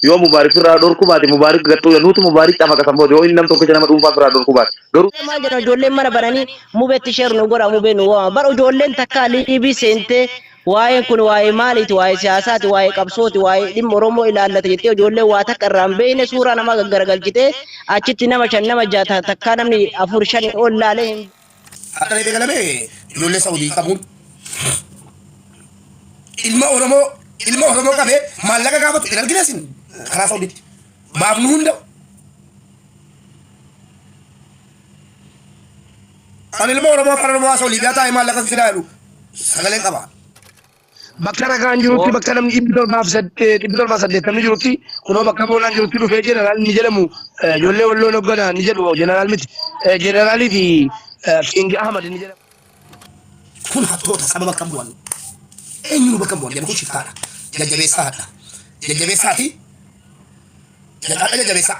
Yoo Mubaarik firraa dhorkuu baate Mubaarik gad xuuya nuutu Mubaarik cafaqasa booda yoo inni nam tokkicha nama dhuunfaa firraa dhorkuu baate garuu. Mee maal jedhan ijoolleen mana bananii mubetti share nu godha mubee nu waama bar ijoolleen takkaa liibii seentee waa'een kun waa'ee maaliiti waa'ee siyaasaati waa'ee qabsooti waa'ee dhimma oromoo ilaallata jettee ijoolleen waa takka irraa hin beekne suuraa namaa gaggaragalchitee achitti nama shan nama jaha takkaa namni afur shanii ol laalee hin Akka ta'e beekalame ijoollee Saudii qabuun ilma Oromoo ilma Oromoo qabee maallaqa gaafatu hin argine isin karaa Saudiitti baafnu hunda. Kan ilma Oromoo afaan Oromoo haasa'u Liibiyaa taa'ee maallaqa fidaa jedhu sagalee qaba. Bakka ragaan jirutti Foor- bakka namni dhibbi torbaa fi sad- eh, dhibbi torbaa fi saddeettamni jirutti kunoo bakka boolaan jirutti dhufee jeneraal ni jedhamu eh, ijoollee walloon hoggana ni jedhu jeneraal miti Eh, jeneraalii fi eh, Kiingi Ahmad ni jedhamu. kun hattoota saba bakka bu'an eenyuun bakka bu'an jedhu kun shiftaadha jajjabeessaa hadha jajjabeessaati jajjabeessaa jajjabeessaa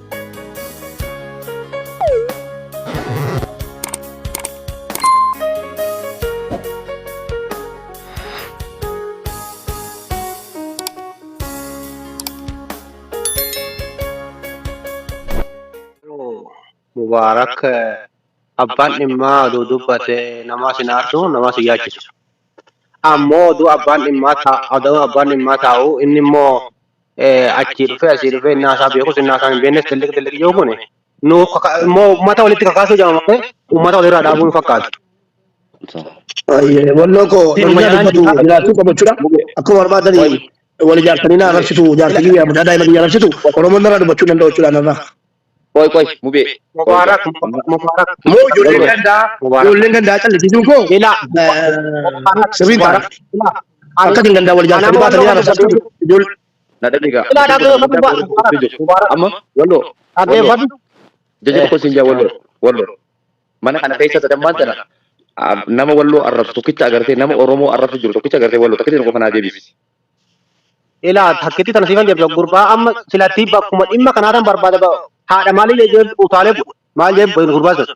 Mubaarak abbaan dhimmaa oduu dubbate namaa sin aarsu namaa sin yaachisu. Ammoo oduu abbaan dhimmaa taa'u inni immoo achii dhufee asii dhufee innaa isaa beekus innaa isaa hin beeknes xilliq xilliq yoo kun nu immoo uummata walitti kakaasuu jedhama malee uummata walirraa dhaabuu hin fakkaatu. Walloo koo Seeruma namni jalaan dubbatu jira. jiraachuu qabu jechuudha. Akkuma barbaadanii wal ijaarsanii na agarsiisu jaartii kiyya mucaa daa'ima kiyya agarsiisu Oromoon narraa dubbachuu hin danda'u jechuudha narraa. Qoy qoy mubee. Mubaarak Mubaarak moo ijoolleen gandaa ijoolleen gandaa callisisuun koo Ila sirrii ta'a. Akka isin gandaa wal jaallatanii baatan yaa rabbi akka ijoollee Na dhageega. Ila dhageefatu Mubaarak. Amma walloo. Dhageefatu. Jajjaba koo siin jaa walloo. Walloo. Mana kana keessa sadammaan tana ah, nama walloo arrabsu tokkicha agartee nama Oromoo arrabsu jiru tokkicha agartee walloo tokkicha qofa naa deebisi. Ilaa takkitti tana siifan jedhu gurbaa amma silattii bakkuma dhimma kanaa tan barbaada ba- haadha maalii jedhee utaalee bu- maal jedhee bu- gurbaa sun.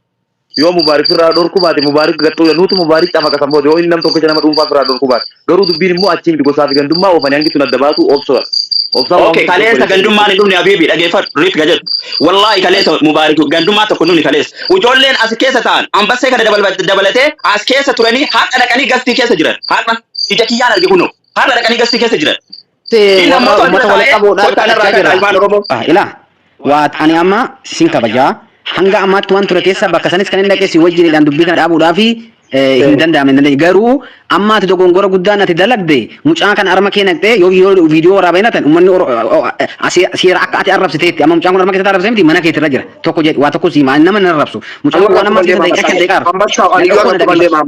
yoo mubaarik firraa dhorkuu baate mubaarik gaxxuu jedha nuutu mubaarik cafaka san booda yoo inni nam tokkicha nama dhuunfaa firraa dhorkuu baate garuu dubbiin immoo achii miti gosaa fi gandummaa oofanii hangi tun adda baatu obsoodha obsaa waan Okay, hundi kaleessa obboleessa gandummaan hin dhumne Habiibi dhageeffadhu Riit ka jedhu. Wallaahi kaleessa Mubaarik gandummaa tokko hin dhumne kaleessa. Ijoolleen as keessa ta'an ambassee kana dabal- dabalatee as keessa turanii har'a dhaqanii gastii keessa jiran har'a. Ija kiyyaan arge kunoo. Har'a dhaqanii gastii keessa jiran. Inni ammoo warra ummata walitti qabuudhaan kottaa narraa kadhachaa kadhaa jirra. ilmaan Oromoo. Ah, ilaa waat ani amma sin kabajaa hanga ammaatti waan ture keessa bakka sanis kan hin dhaqee si wajjinidhaan dubbii kana dhaabuudhaa fi eh, hin danda'amne hin dandeenye garuu amma ati dogongora guddaan ati dalagde mucaa kana arma kee naqxee yoo yoo viidiyoo waraabee natan ummanni oro- o- o- asi- seera akka ati arrabsiteetti amma mucaan kun arma keessatti arrabsee miti mana keetti irra jira tokko jedhe waa tokko siimaa nama hin arrabsu mucaan kun waan amma keessa daqiiqaa kan daqiiqaa arrabsu Amma shaaw ani Daqiiqaa yoo tokko na tokko daqiiqaa. deemaam.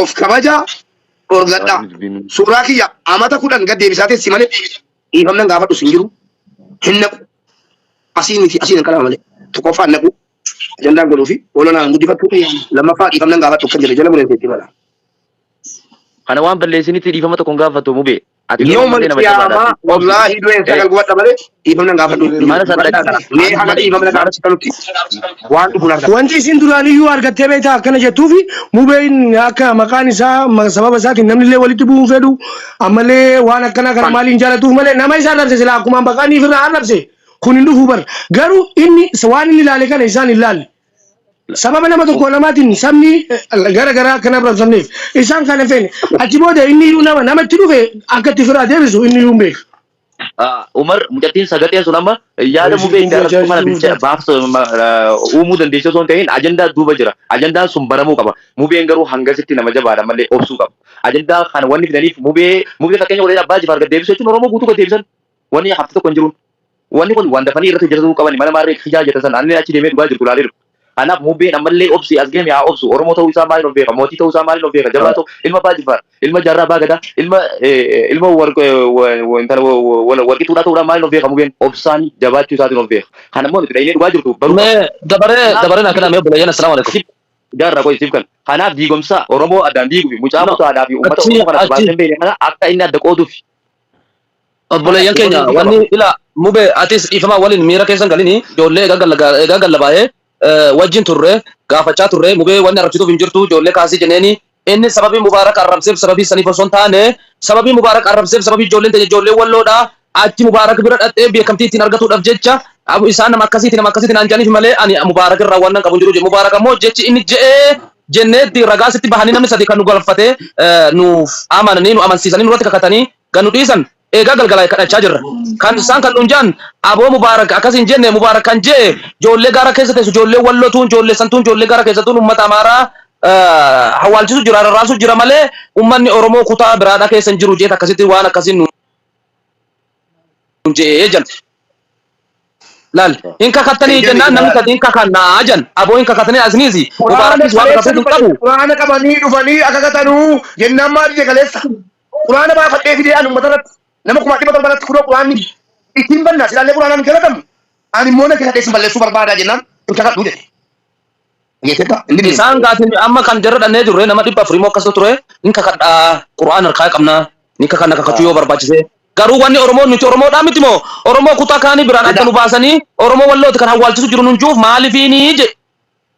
Of kabaja dhorgadha. Isaanis binuu. Suuraa kiyya amata kudhan gad deebisaa teessi malee dhiifamnan gaafadhu sin jiru. Hin naqu. Asiin miti asiin hin qalama malee. Tokkoffaa hin naqu. Ajandaan godhuu fi olanaa hin guddifatu. Lammaffaa dhiifamnan gaafadhu kan jedhe jala muree teetti mala. Kana waan balleessinitti dhiifama tokko hin gaafatu mubee. Ati garuu Yawmal malee nama jabaadha. qiyaamaa Obsi. wallaahi du'een Eh, sagal gubadha malee dhiifama nan gaafadhu. eh, mana san Gubadhaa dhaqi. kana. Mee haga dhiifama na Mana gaafachiftanutti waan dhufu laata. Wanti isin duraaniyyuu argattee beektaa akkana jettuufi mubeen akka maqaan isaa ma- sababa isaatiin namni illee walitti bu'uu hin fedhu ammallee waan akkanaa kana maaliif hin jaalatuuf malee nama isa arrabse silaa akkuma baqaaniif irraa arrabse kun hin dhufu bar garuu inni waan inni ilaale kana isaan hin laalle Sababa nama tokko lamaatiin sabni gara garaa akka hin abramsamneef isaan kana feene. Achi booda inni iyyuu nama namatti dhufe akka itti firaa deebisu inni iyyuu hin beeka. Umar mucattiin sagaxeen sun amma yaada mubee itti argattu kana bilcha baaf uumuu dandeessi osoo hin ta'in ajandaa duuba jira. Ajandaan sun baramuu qaba. Mubeen garuu hangasitti nama jabaadha malee obsuu qaba. Ajandaa kana wanni fidaniif mubee mubee fakkeenya godhee abbaa jifaar gad deebisu jechuun oromoo guutuu gad deebisan. Wanni hafte tokko hin jiruun. Wanni kun waan dafanii irratti hojjatatuu qabani mala maarree kijaa jettan san anilleen achi deemee dhugaa jirtu laalee dhufe. Kanaaf Mubbeen ammallee obsi as game haa obsu Oromoo ta'uu isaa maaliin of beeka mootii ta'uu isaa maaliin of beeka jabaa ta'u ilma Abbaa Jiffaar ilma Jaarraa Abbaa Gadaa ilma ilma intala Warqituudhaa ta'uudhaan maaliin of beeka Mubeen obsaan jabaachuu isaatiin of beeka. Kana immoo nuti dhaynee dhugaa jirtu baruu qabna. Mee dabaree Kanaaf dabaree naa kenaa mee obboleeyyan assalaamu alaikum. sif jaarraa qoy sif kan kanaaf diigomsaa Oromoo addaan diigufi mucaa No mutaadhaa fi uummata achi Oromoo kana achi. barbaadnee hin beekne kana akka inni adda qoodufi. Obboleeyyan keenya wanni ila mube atis dhiifama waliin miira keessan galini ijoollee egaa gallabaayee wajjin turre gaafachaa turre mubee wanni arrabsituuf hin jirtu ijoollee kaasii jeneeni inni sababii mubaarak arrabseef sababii saniif osoo hin taane sababii mubaarak arrabseef sababii ijoolleen teenya ijoollee walloodha achi mubaarak bira dhaxxee beekamtii ittiin argatuudhaaf jecha isaan nama akkasiiti nama akkasiiti naan jedhaniif malee ani mubaarak irraa waan nan qabu hin jiru mubaarak ammoo jechi inni je'ee jenneetti ragaa sitti bahanii namni sadi kan nu galfatee nuuf amananii nu amansiisanii nurratti kakatanii kan nu dhiisan eegaa galgalaa'e kadhachaa jirra. Kan isaan kan nuun ja'an aboo Mubaarak akkas hin jenne Mubaarak kan je'e joollee gaara keessa teessu joollee Walloo tuun joollee san tuun joollee gaara keessa tuun ummata Amaaraa hawwaalchisu jira rarraasu jira malee ummanni Oromoo kutaa biraadhaa keessa hin jiru jeet akkasitti waan akkasiin nuun je'e jan. Laal hin kakattanii Eeyyami jennaan namni dhugaa. sadii hin kakannaa jan aboo hin kakatanii asiniisi Quraana Mubaarakiis waan kaleessa kakatuuf hin dhufanii qabu. Quraana qabanii dhufanii akka katanuu jennaan maal jee kaleessa. Quraana baafadhee fidee ani ummata irratti nama kumaa dhibba torba irratti kunoo quraanni ittiin bannaa silaallee quraanaan hin galatamu ani immoo nan kakadhee sin balleessuu barbaadaa jennaan hin kakadhuu jedhe. Dhageetteetta inni bineensa. Isaan gaatiin amma kan jarra dhannee turre nama dhibba afurii moo akkas ture hin kakadha qura'aan harkaa qabna ni kakanna kakachuu yoo barbaachise garuu wanni oromoo nuti oromoodhaa miti moo oromoo kutaa kaanii biraan adda nu baasanii oromoo wallooti kan hawwaalchisu jiru nun juuf maalifiini je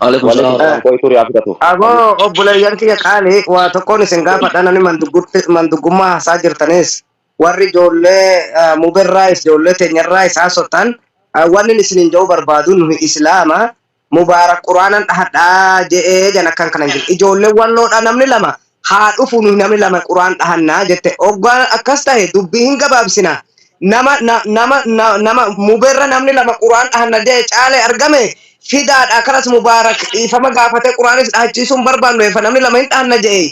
Waalaikum Waalaikum salaam. salaam qoy turii haa fudhatu. Aboo obboleeyyan kiyya qaali waa tokkoon isin gaafadha nani manduggutti- manduggummaa haasaa jirtanis warri ijoollee ah, muberraayis ijoollee teenyarraayis haasoftan ah, wanni inni isiniin jedhuu barbaadu nuyi islaama mubaarak quraanan dhahadhaa je'ee jan akkan kana hin jiru ijoollee walloodha namni lama haa dhufu nuyi namni lama quraan dhahanna jette oggaa akkas tahe dubbi hin gabaabsina nama na, nama na, nama muberra namni lama quraan dhahanna jee caale argame fidaadha kalas mubaarak dhiifama gaafate quraanis dhahachiisuu hin barbaannu efa namni lama hin dhahanna jee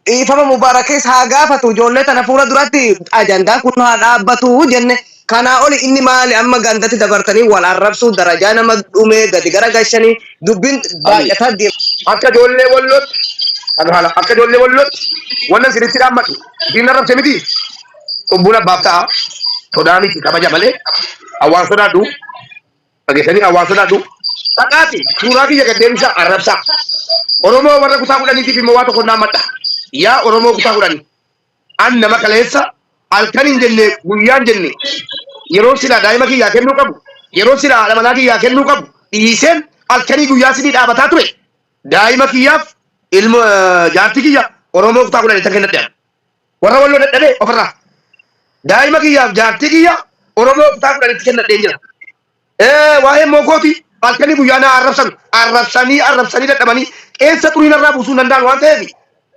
dhiifama mubaarakis haa gaafatu ijoollee tana fuula duratti ajandaa kun haa dhaabbatu jenne Kanaa oli inni maali amma gandatti dabartanii wal arrabsuu darajaa nama dhumee gadi gara gashanii dubbin baay'ataa deema. Akka ijoollee wallootti kan haala akka ijoollee wallootti wallan sinitti dhaammadhu diinna rabse miti cubbuun abbaaf ta'a sodaa miti kabaja malee awwaan sodaadhu dhageessanii awwaan sodaadhu dhaqaati suuraa kiyya gad deebisaa arrabsaa oromoo warra kutaa kudhaniitiif immoo waa tokko dhaammadha yaa oromoo kutaa kudhanii An nama kaleessa halkan hin jenne guyyaa hin jenne yeroon silaa daa'ima kiyyaa kennuu qabu, yeroon silaa haadha manaa kiyyaa kennuu qabu dhiiseen halkanii guyyaa isinii dhaabataa ture. Daa'ima kiyyaaf ilmo jaartii kiyya Oromoo kutaa kudhanii tan kennadhe an. Warra Walloo dadhabee ofirraa. Daa'ima kiyyaaf jaartii kiyya Oromoo kutaa kudhanitti kennadheen jira. Ee, waa'ee moogooti halkanii guyyaa na arrabsan. Arrabsanii arrabsanii dadhabanii qeensa xurii narraa buusuu hin danda'an waan ta'eef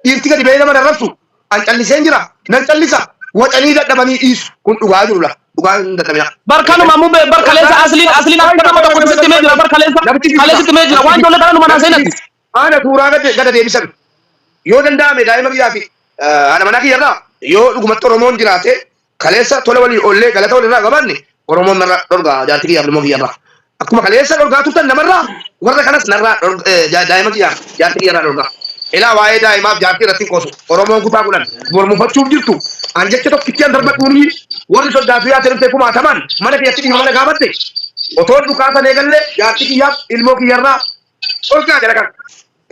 dhiirti gadi ba'ee nama hin arrabsu. An calliseen jira. Nan callisa. Wacanii dadhabanii dhiisu. Kun dhugaa jiru laa. Dhugaa hin dadhabina. Bar Wacanii. kanuma mube bar kaleessa asliin asliin akka nama tokkotti sitti himee jira bar kaleessa Namichi kaleessa biyya. sitti himee jira waan ijoollee kana numa naa seenatti. Haana suuraa gad gada deebisan. Yoo danda'ame daa'ima biyyaa fi haadha manaa kiyya irraa yoo dhugumatti Oromoon jiraate Kaleessa tola walii oollee galata walirraa qabaanne Oromoon narraa dhorgaa jaartii kiyyaaf ilmoo kiyyarraa. Akkuma kaleessa dhorgaa turtan namarraa warra kanas narraa dhorg- eh, ja- daa'ima kiyyaaf jaartii kiyyarraa dhorgaa. Ilaa waa'ee daa'imaaf jaartii irratti hin qoosu. Oromoon kutaa kudhan bor mufachuuf jirtu. An jecha tokkittian darbadhuuni warri soddaatu yaate dhuftee kumaatamaan mana kiyyatti dhiifama na gaafatte. Otoon dhukaasan eegallee jaartii kiyyaaf ilmoo kiyyarraa dhorgaa jala kan.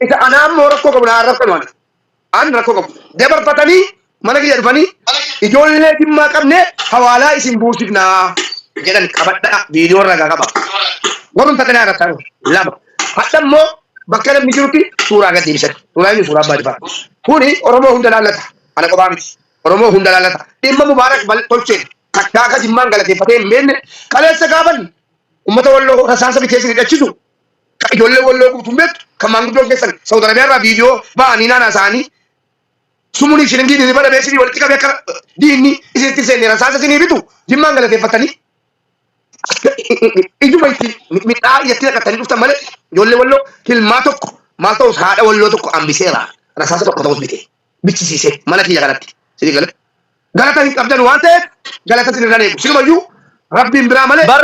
Isa anaa immoo rakkoo qabu naa arrabsanu ana. An rakko qabu. Dabarfatani mana kiyya dhufani ijoollee jimmaa qabne hawaalaa isin buusifna jedhan qabadha video irra ga qaba. Warrum takka naa irratti lama. Hadha immoo bakka namni jirutti suuraa gad deebisan. Suuraa inni suuraa abbaa jifaa. Kuni Oromoo hunda laallata. Ana qophaa miti. Oromoo hunda laallata. Dhimma Mubaarak bal tolcheen takkaa akka jimmaan galateeffatee hin beekne kaleessa gaafan ummata walloo rasaasa biteessin hidhachisu Ka ijoollee walloo guutuun beektu kan maanguddoon keessan Saudi Arabia irraa viidiyoo ba'anii naanaa isaanii sumunii shilingiin hirriba dhabee isinii walitti qabee akka diinni isinitti hin seenne rasaasa isinii bitu jimmaan galateeffattanii ijuma itti midhaa iyyatti naqattanii dhuftan malee ijoollee walloo hilmaa tokko maal ta'us haadha walloo tokko hambiseera rasaasa tokko ta'us bitee bichisiisee mana kiyya kanatti isinii gala galata hin qabdan waan ta'eef galata isin irraan eegu silumayyuu rabbiin biraa malee bar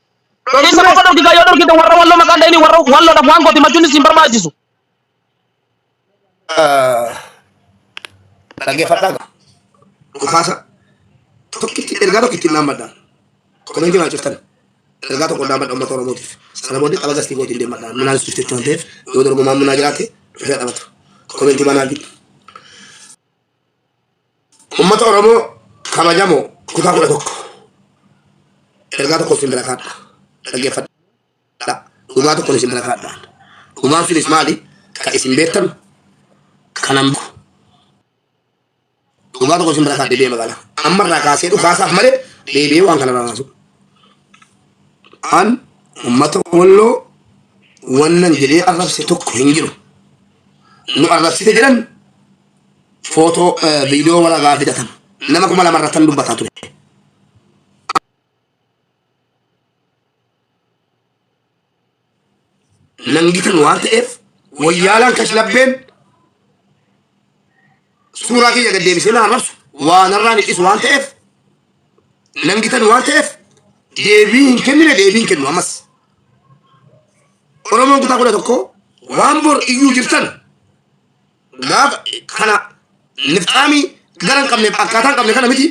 Dhokiinsa Dhokiinsa muka dhorkisaa yoo dhorkitan warra walloo maqaan dha'inii warra walloodhaaf waan goote machuun isin barbaachisu. Dhaggeeffadhaa gaa. Dhukaasa tokkitti ergaa tokko ittiin dhaammadhaan. Komentii naa cuftan. Ergaa tokko dhaammadha uummata Oromootiif. Sana booddee tapha gastii kootiin deemadhaan. Minaan suuf jechuun waan ta'eef yoo dorgomaan minaa jiraate dhufee taphata. Komentii manaa jiru. Uummata Oromoo kabajamoo kutaa kudha tokko ergaa tokko isin bira kaadha dhaggeeffadha dhugaa tokkon isin bira kaadha dhugaan sunis maali ka isin beektan kanan beeku dhugaa tokko isin bira kaadha deebi'ee magaalaa amma irraa kaasee dhukaasaaf malee deebi'ee waan kana raawwaatu an uummata walloo wannan jedhee arrabse tokko hin jiru nu arrabsite jedhan footoo viidiyoo wal agaa fidatan nama kuma lama irratti dubbataa ture. Nangitan waan ta'eef wayyaalaan kashlabbeen suuraa kiyya gad deebisee na arrabsu waan irraan hidhisu waan ta'eef nangitan waan ta'eef deebii hin kennine deebii hin kennu ammas. Oromoon kutaa kudha tokko waan bor iyyuu jirtan gaafa kana nifxaamii gara hin qabne akkaataa hin qabne kana miti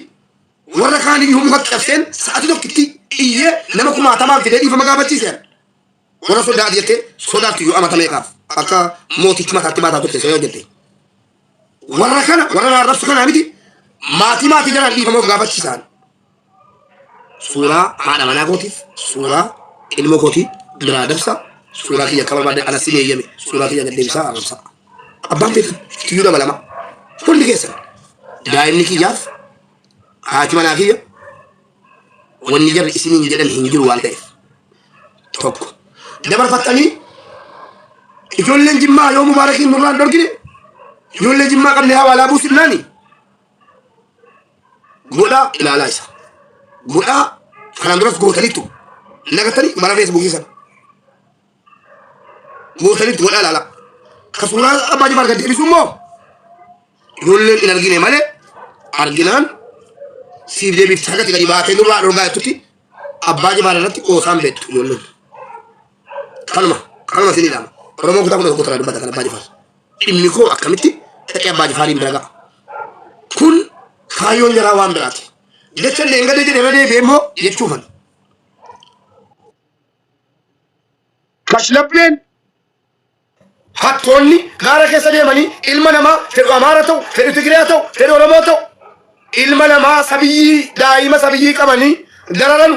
warra kaan iyyuu mukatti cabseen sa'atii tokkitti iyyee nama kumaatamaan fidee dhiifama gaafachiise warra sodaat jettee sodaatti iyyuu amata meeqaaf akka mootichi mataatti baataa turte seenaa jette warra kana warra naarrabsu kanaa miti maatii maatii jalaan dhiifama of gaafachiisaan suuraa haadha manaa kootiif suuraa ilmoo kootii biraa dabsa suuraa kiyya akka barbaadde ana si eeyyame suuraa kiyya gad deebisaa arrabsaa abbaan feetu tiyyuu nama lama hundi keessan daa'imni kiyyaaf haati manaa kiyya wanni jarri isiniin jedhan hin jiru waan ta'eef tokko dabarfattanii ijoolleen jimmaa yoo mubaarakiin nurraan dorgine ijoollee jimmaa qabne hawaalaa buusifnaani Godhaa ilaalaa isa. Godhaa kanaan duras gootaniittu. Hin agartanii mana feesbuukii sana. Gootaniittu godhaa ilaalaa. Ka suuraa abbaa jifaar gad deebisu immoo ijoolleen hin argine malee arginaan siif deebiif sagatti gadi baatee nurraa dhorgaa jettutti abbaa jifaar irratti qoosaan beektu ijoolleen. Kanuma kanuma isin ilaama. Oromoo kutaa kudha tokko irraa dubbata kan abbaa jifaar. Dhimmi koo akkamitti dhaqee abbaa jifaariin bira ga'a? Kun kaayyoon jaraa waan biraati. Jecha illee hin gadee jedhe irra deebi'ee immoo jechuufan. Kashlabbeen hattoonni gaara keessa deemanii ilma namaa fedhu Amaara ta'u, fedhu Tigiriyaa ta'u, fedhu Oromoo ta'u ilma namaa sabiyyii daa'ima sabiyyii qabanii dararanu.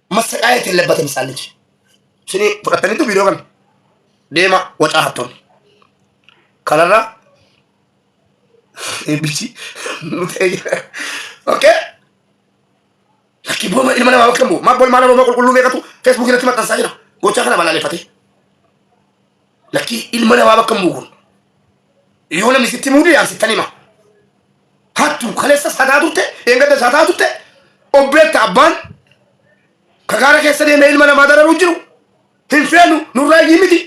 massaqaa ittiin labbatan isaan liji. Sini fudhataniitu viidiyoo kana deema wacaa hattoonni. Kanarraa eebbichi nu ta'ee jira. Okay? Lakkii booma ilma namaa bakka bu'u. Maaf booma ilma namaa qulqulluu beekatu Facebook irratti maxxansaa jira. Gochaa kana balaaleffatee. Lakkii ilma namaa bakka bu'u kun. Yoo namni sitti muudu yaa sittan hima. Hattuu kaleessas hataa turte, dheengaddas hataa turte, obbeetta abbaan ka gaara keessa deemee ilma namaa dararuu jiru hin feenu nurraa iyyii miti.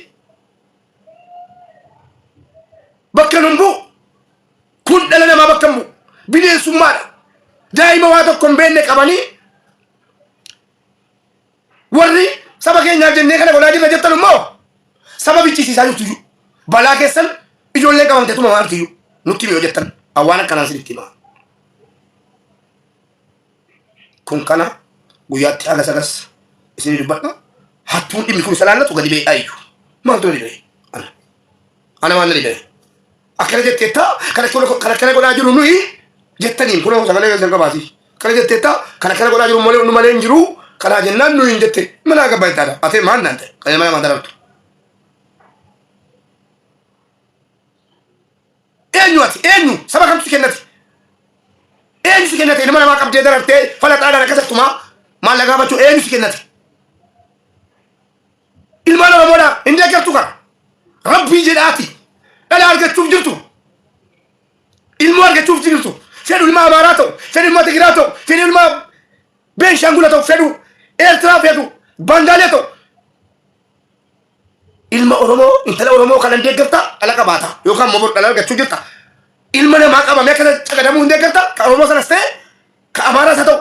Bakka nun bu'u. Kun dhala namaa bakka hin bu'u. Bineensummaadha. Daa'ima waa tokko hin beekne qabanii Warri saba keenyaaf jennee kana godhaa jirra jettan immoo saba bichisiisaa jirtuyyuu balaa keessan ijoolleen qabamtee tumamaa jirtuyyuu nutti himi yoo jettan awwaan akkanaan sinitti himaa. Kun kana guyyaatti haga sagas isinii dubbadha. Hattuun dhimmi kun isa laallatu gadi ba'ee dhaayyu. Maaltu na didee? Ana. Ana maal na didee? akkana jetteetta kan akkana kan akkana godhaa jiru nuyi jettaniin kun hoo sagalee keessan qabaati akkana jetteetta kan akkana godhaa jiru malee nu malee hin jiru kanaa jennaan nuyi hin jette mana abbaa ittaadha atee maan naan ta'e kan mana madarabtu eenyu ati eenyu saba kamtu si kennati eenyu si kennate ilma namaa qabdee darartee falaxaadhaan akkasattumaa maallaqa baachuu eenyu si kennate Ilmaan Oromoodhaa hin deeggartu kaa. Rabbii jedhaati. Dhala argachuuf jirtu. Ilmoo argachuuf jirtu. Fedhu ilmaa Amaaraa ta'u, fedhu ilmaa Tigiraa ta'u, fedhu ilmaa Beenshaangula ta'u, fedhu Eertiraa fedhu Bangaalee ta'u. Ilma Oromoo, intala Oromoo kana hin deeggarta, dhala qabaata. Yookaan immoo bor dhala argachuu jirta. Ilma namaa qabamee akkana caqadamuu hin deeggarta, ka Oromoo sanas ta'e, ka Amaaraas haa ta'u,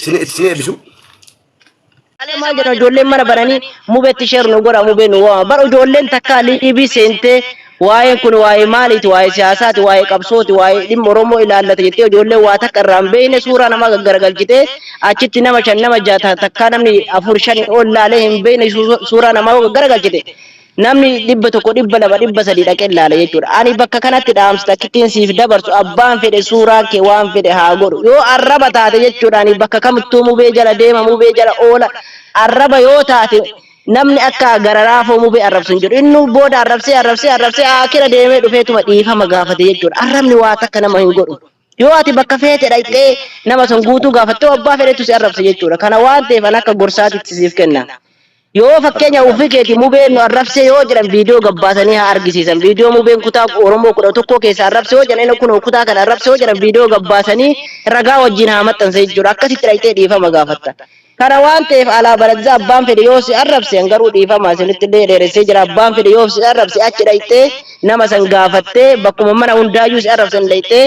Sin sin ebisu. Alee maal jedhan ijoolleen mana baranii mubetti sheer nu godha mubee nu waama. Bar ijoolleen takka liibii seentee waa'een kun waa'ee maaliiti waa'ee siyaasaati waa'ee qabsooti waa'ee dhimma Oromoo ilaallata jettee ijoolleen waa takka irraa hin beekne suuraa namaa gaggaragalchitee achitti nama shan nama jaha takkaa namni afur shan ol laalee hin beekne suuraa namaa gaggaragalchite Namni dhibba tokko, dhibba lama, dhibba sadii dhaqee ilaala jechuudha. Ani bakka kanatti dhaamsa takkittiin siif dabarsu abbaan fedhe suuraa kee waan fedhe haa godhu. Yoo arraba taate jechuudha ani bakka kamittuu mubee jala deema, mubee jala oola. Arraba yoo taate namni akka gararaafoo mubee arrabsu hin jiru. Innuu booda arrabsee arrabsee arrabsee aakira deemee dhufeetuma dhiifama gaafate jechuudha. Arrabni waa takka nama hin godhu. Yoo ati bakka feete dhaqxee nama san guutuu gaafatte hoo abbaa fedhetu si arrabsa jechuudha. Kana waan ta'eef an akka gorsaatitti siif kenna. Yoo fakkeenya ofii keeti mubeen nu arrabsee yoo jedhan viidiyoo gabbaasanii haa argisiisan. Viidiyoo mubeen kutaa Oromoo kudha tokkoo keessaa arrabse yoo jedhan kunoo kutaa kana arrabse yoo jedhan viidiyoo gabbaasanii ragaa wajjin haa maxxansa jechuudha. Akkasitti dhaqxee dhiifama gaafatta. Kana waan ta'eef alaa baradza abbaan fedhe yoo si arrabse an garuu dhiifama isinitti illee dheeressee jira abbaan fedhe yoo si arrabse achi dhayxee nama san gaafattee bakkuma mana hundaayyuu si arrabsan dhayxee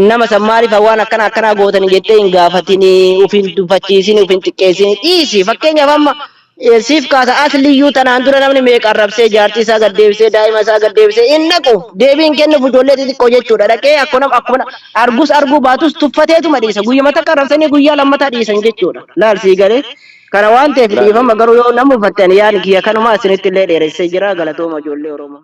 nama san maaliif waan akkana akkanaa gootani jettee hin gaafatini uf hin tuffachiisini uf hin xiqqeessini dhiisi fakkeenyaaf amma eh, siif kaasa asliyyuu tanaan dura namni meeqa arrabsee jaartii isaa gad deebisee daa'ima isaa gad deebisee hin dhaqu deebii hin kennuuf ijoollee xixiqqoo jechuudha dhaqee akkuma akkuma Argus arguu baatus tuffateetuma dhiisa. Guyyuma takka arrabsanii guyyaa lammataa dhiisan jechuudha. Laal sii galee. Kana waan ta'eef dhiifama garuu yoo na mufattan yaadni kiyya kanuma isinitti illee dheeressee jira galatooma ijoollee Oromoo.